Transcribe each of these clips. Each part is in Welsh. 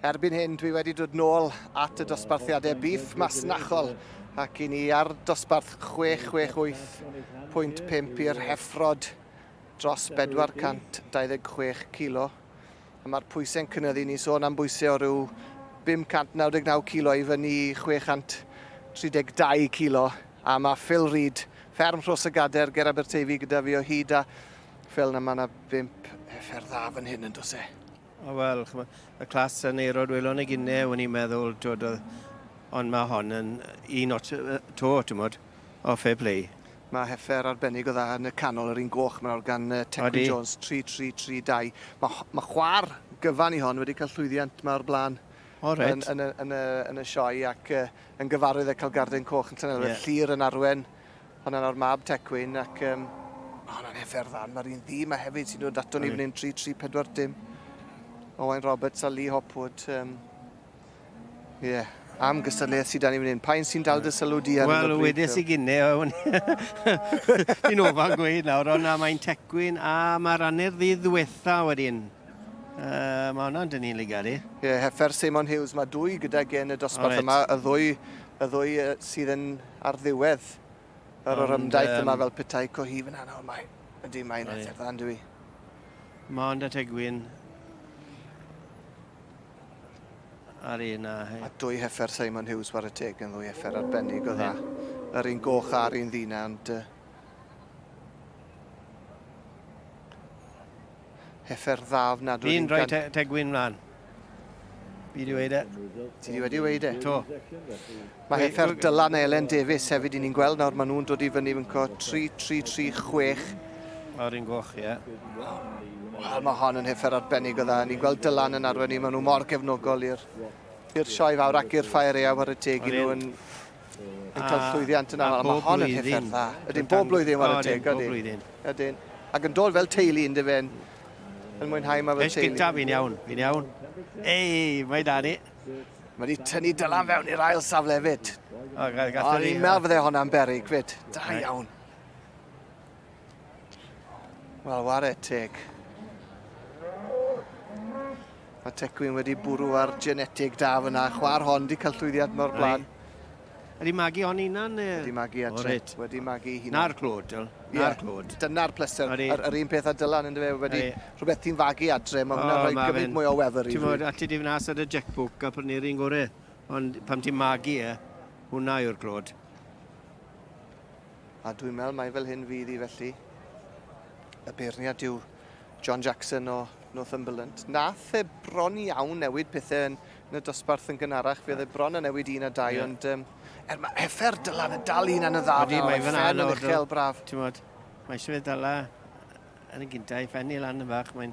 Erbyn hyn dwi wedi dod nôl at y dosbarthiadau bîff masnachol ac i ni ar dosbarth 668.5 i'r heffrod dros 426 kilo a mae'r pwysau'n cynyddu, ni'n sôn am bwysau o ryw 599 kilo i fyny i 632 kilo a mae Phil Reid, fferm Rhos y Gader ger Aberteifi gyda fi o hyd a Phil na mae yna bump heffer dda fan hyn yn dos e? O wel, ch'mo', y Clas yn ei rod welon ag inne, o'n i'n meddwl, twod, oedd... Ond mae hon yn un ots yy yy 'to, timod. O, fair play. Mae heffer arbennig o dda yn y canol, yr un goch 'ma nawr gan yy Tecwyn... Odi. ...Jones, tri tri tri dau. Ma' ho- ma' chwa'r gyfan i hon wedi ca'l llwyddiant 'ma o'r bla'n... O reit. ...yn yn y yn y yn y sioe ac yy yn gyfarwydd â ca'l garden coch yn Llanelwedd... Ie. ...Llŷr yn arwen Honna nawr mab Tecwyn ac um, honna yn efer dda. Mae'r un ddi yma hefyd sy'n dod ato ni fan hyn 3-3-4 dim. Owain Roberts a Lee Hopwood. Um, yeah. Am gystadleuaeth sydd dan ni fan hyn. Pa'n sy'n dal dy sylw di ar Wel, wedes i gynne, o'n i'n ofal gweud nawr, ond mae'n tecwyn a mae'r anner ddydd ddiwetha wedyn. Uh, mae hwnna'n dyn ni'n ligari. Ie, yeah, heffer Simon Hughes, mae dwy gyda gen y dosbarth right. yma, y ddwy, y ddwy uh, sydd yn ar ddiwedd yr orymdaith yma fel petai cohi fyna nawr mae. Ydy, mae'n ateb dda, yndw i. Mond at egwyn ar un a... A dwy heffer Simon Hughes war y teg yn ddwy heffer arbennig o dda. Yr un goch a'r un ddina, ond... Uh... Heffer dda ofnadwy. Fi'n rhoi te, te gwyn mlaen. Fi wedi weud e. Ti wedi wedi weud e? To. Mae Heffer Dylan a Elen Davies hefyd i ni'n gweld nawr. Mae nhw'n dod i fyny fynco 3-3-3-6. O'r un goch, ie. Wel, mae hon yn heffer arbennig o dda. Ni'n gweld Dylan yn arwen ni. Mae nhw mor gefnogol i'r sioe fawr ac i'r ffair eau ar y teg i nhw yn yn cael llwyddiant yn aml. Mae hon yn hethau'r dda. Ydyn, bob blwyddyn war y teg. Bob blwyddyn. Ydyn. Ac yn dod fel teulu, ynddo fe'n yn mwynhau yma fel teulu. Ys gyntaf, fi'n iawn, fi'n iawn. Ei, mae da ni. Mae wedi tynnu dylan fewn i'r ail safle fyd. O, ni'n meddwl fydde hwnna'n berig fyd. Da iawn. Wel, ware teg. Mae Tecwyn wedi bwrw ar genetig da fyna. Chwar hon di cael llwyddiant mor blaen. Ydy magu o'n unan? Ydy magu at Reit. Wedi magu hunan. Na'r clod, Dyl. Na'r clod. Dyna'r pleser. Yr, yr un peth a Dylan yn dyfe wedi rhywbeth ti'n fagu adre. Mae hwnna'n rhoi gymaint mwy o wefr i fi. Ti'n fawr, ati di fnas ar y jackbook a prynu'r un gorau. Ond pam ti'n magu e, hwnna yw'r clod. A dwi'n meddwl mai fel hyn fydd hi felly. Y beirniad yw John Jackson o Northumberland. Nath e bron iawn newid pethau yn, yn y dosbarth yn gynharach. Fe oedd e bron yn newid un a dau, yeah. ond um, er mae effer Dylan yn dal un yn y dda. Wedi, mae fyna yn uchel braf. Ti'n modd, mae eisiau fe dala yn y gyntaf, i ffenni lan yn fach, mae'n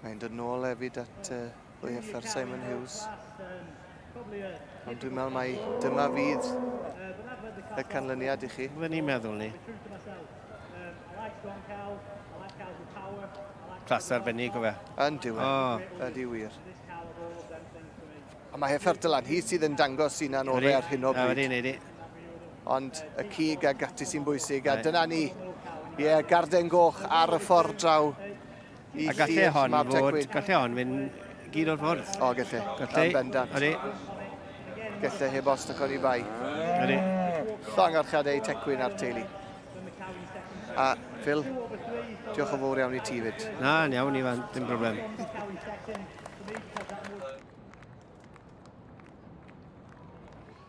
Mae'n dod nôl hefyd at uh, Louis Effer, Simon Hughes. Ond dwi'n meddwl mai dyma fydd y canlyniad i chi. Fe ni'n meddwl ni. Clas arbennig o fe. Yn diwy. E. Oh. Ydy wir. A mae Heffer Dylan, hi sydd yn dangos sy'n a'n orau ar hyn o bryd. Ydy, ydy. Ond y cig a gati sy'n bwysig, a dyna ni. Ie, yeah, garden goch ar y ffordd draw A gallu hon fod, gallu hon mynd gyd o'r ffordd. O, gallu. Gallu. Yn bendant. Ydy. Gallu heb os dy codi bai. Ydy. Llongarchad ei tecwyn a'r teulu. A Phil, diolch o fawr iawn i ti fyd. Na, yn iawn, Ifan, dim broblem.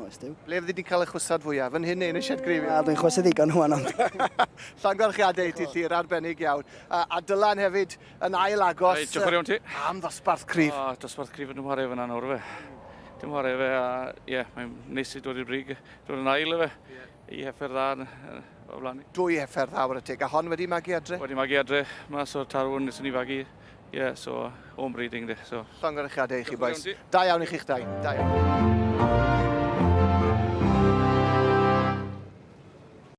Oes, Duw. Ble fyddi di'n cael y chwysad fwya? Fan hyn neu yn y sied greifiol? Wel, dwi'n chwysu ddigon rhwan ond... Llongyfarchiadau i ti Llyr, arbennig iawn. A, a Dylan hefyd yn ail agos... Reit, diolch yn fawr iawn ti. ...am ddosbarth cryf. O, dosbarth cryf yn ymwhare fan'na nawr ife? Dim whare ife a ie, mae'n neis i dod i'r brig, dod yn ail ife? Ie. Y heffer dda yn o flaen ni. Dwy heffer dda wr y teg. A hon wedi magu adre? Wedi magu adre, mas o'r tarwn nes ni fagu. Ie, yeah, so home breeding de. So. Llongyrychiadau i chi boes. Da iawn i chi'ch dau. Da iawn.